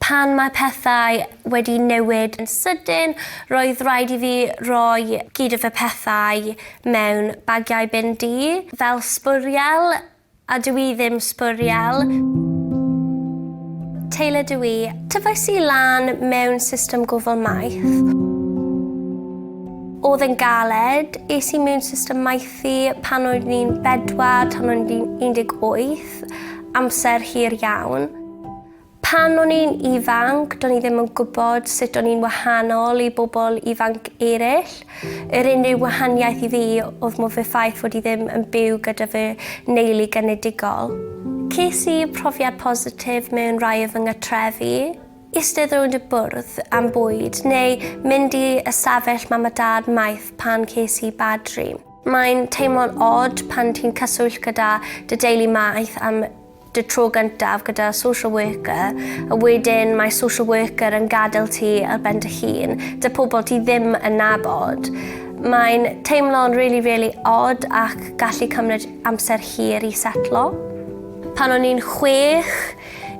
Pan mae pethau wedi newid yn sydyn, roedd rhaid i fi roi gyd fy pethau mewn bagiau bin du, fel sbwriel, a dw i ddim sbwriel. Taylor dw i. Tyfais i lan mewn system gofal maeth. Oedd e'n galed. Es i mewn system maethu pan o'n i'n bedwar tan o'n i'n 18, amser hir iawn. Pan o'n i'n ifanc, do'n i ddim yn gwybod sut o'n i'n wahanol i bobl ifanc eraill. Yr unrhyw wahaniaeth i fi oedd mo fy ffaith fod i ddim yn byw gyda fy neulu genedigol. Ces i profiad positif mewn rhai o fy nghatrefi, eistedd rownd y bwrdd am bwyd neu mynd i ystafell mam a dad maeth pan ces i bad dream. Mae'n teimlo'n od pan ti'n cyswllt gyda dy deulu maeth am dy tro gyntaf gyda social worker a wedyn mae social worker yn gadael ti ar ben dy hun, dy pobl ti ddim yn nabod. Mae'n teimlo'n really, really odd ac gallu cymryd amser hir i setlo. Pan o'n i'n chwech,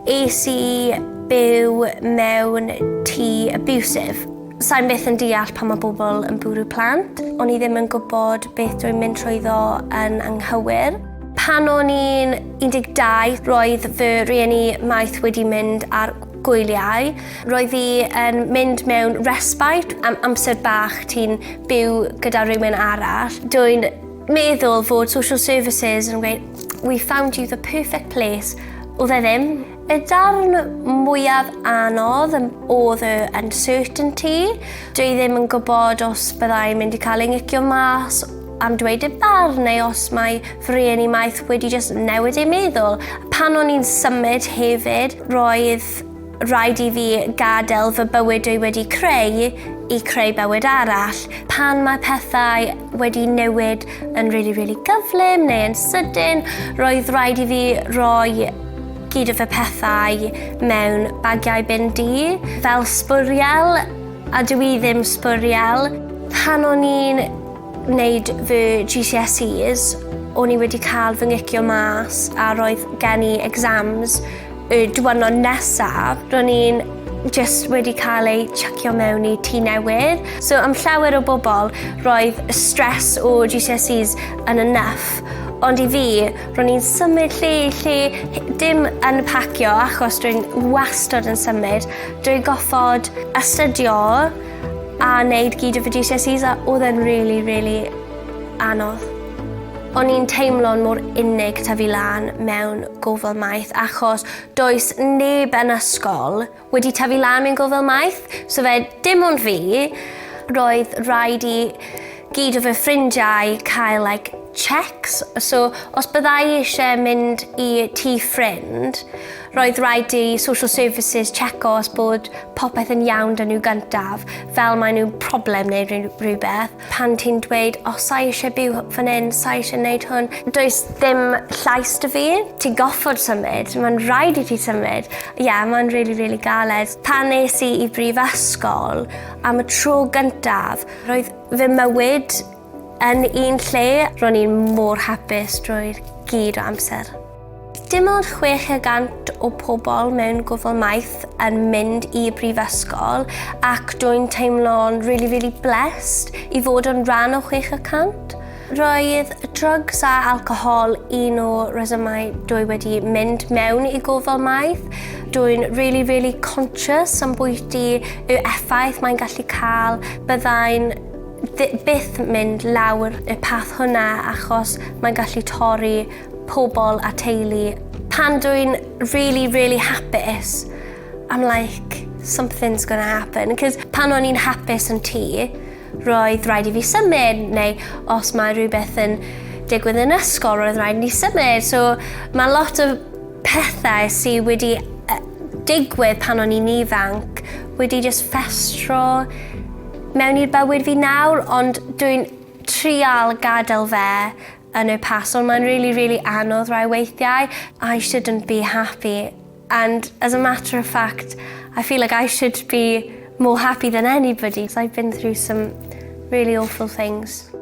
es i byw mewn tŷ abusive Sain byth yn deall pan mae bobl yn bwrw plant. O'n i ddim yn gwybod beth dwi'n mynd trwyddo yn anghywir. Pan o'n i'n 12, roedd fy rhieni maeth wedi mynd ar gwyliau. Roedd hi yn mynd mewn respite am amser bach ti'n byw gyda rhywun arall. Dwi'n meddwl fod social services yn gweud we found you the perfect place. Oedd e ddim. Y darn mwyaf anodd oedd y uncertainty. Dwi ddim yn gwybod os byddai mynd i cael ei ngicio mas am dweud y barn neu os mae fy rhieni maeth wedi just newid ei meddwl. Pan o'n i'n symud hefyd, roedd rhaid i fi gadael fy bywyd dwi wedi creu i creu bywyd arall. Pan mae pethau wedi newid yn rili, really, really gyflym neu yn sydyn, roedd rhaid i fi roi gyd o fy pethau mewn bagiau bin di, fel sbwriel, a dwi i ddim sbwriel. Pan o'n i'n wneud fy GCSEs, o'n i wedi cael fy ngicio mas a roedd gen i exams Y diwrnod nesaf, ro'n i'n jyst wedi cael ei chuckio mewn i tŷ newydd. So am llawer o bobl, roedd y stres o GCSEs yn enough. Ond i fi, ro'n i'n symud lle i lle, dim yn pacio achos dwi'n wastad yn symud. Dwi'n goffod astudio a wneud gyd o fy GCSEs a oedd e'n rili, rili anodd. O'n i'n teimlo'n mor unig tyfu lan mewn gofal maeth achos does neb yn ysgol wedi tyfu lan mewn gofal maeth, so fe dim ond fi. Roedd rhaid i gyd o fy ffrindiau cael like checks, so os byddai i eisiau mynd i tŷ ffrind, roedd rhaid i social services checo os bod popeth yn iawn 'da nhw gyntaf, fel maen nhw'n problem neu rhywbeth. Pan ti'n dweud, o, sa i eisiau byw fan hyn, sa i eisiau gwneud hwn, does dim llais dy fi. Ti'n goffod symud, mae'n rhaid i ti symud. Ie, yeah, mae'n rili, really, really galed. Pan nes i i brifysgol, am y tro gyntaf, roedd fy mywyd yn un lle. Ro'n i'n mor hapus drwy'r gyd o amser. Dim ond 600 o pobl mewn gwbl maith yn mynd i brifysgol ac dwi'n teimlo'n really, really blessed i fod yn rhan o 600. Roedd drugs a alcohol un o resymau dwi wedi mynd mewn i gofal maith. Dwi'n really, really conscious am bwyty yw effaith mae'n gallu cael. Byddai'n byth mynd lawr y path hwnna achos mae'n gallu torri pobl a teulu. Pan dwi'n really, really hapus, I'm like, something's gonna happen. Cos pan o'n i'n hapus yn tŷ, roedd rhaid i fi symud, neu os mae rhywbeth yn digwydd yn ysgol, roedd rhaid ni symud. So mae lot o pethau sydd wedi digwydd pan o'n i'n ifanc wedi just festro mewn i'r bywyd fi nawr, ond dwi'n trial gadael fe Yn y person mae'n really really anodd rai weithiau. I shouldn't be happy and as a matter of fact I feel like I should be more happy than anybody so I've been through some really awful things.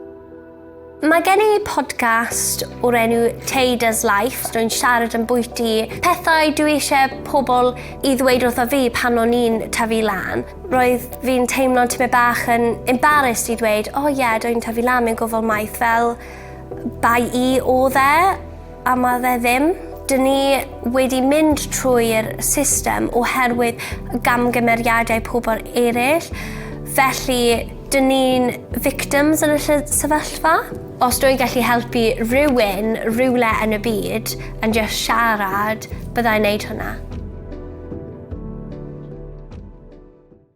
Mae gen i podcast o'r enw Tada's Life. Rwy'n siarad yn bwyty pethau dwi eisiau pobl i ddweud wrtho fi pan o'n i'n tyfu lan. Roedd fi'n teimlo'n tymed bach yn embarrassed i ddweud o ie dw i'n tyfu lan mewn gofal maeth fel bai i odd e a ma' fe ddim. Dyn ni wedi mynd trwy'r system oherwydd gamgymeriadau pobl eraill felly dyn ni'n victims yn y lle- sefyllfa. Os dw i'n gallu helpu rhywun rywle yn y byd, yn jyst siarad, bydda i'n neud hwnna.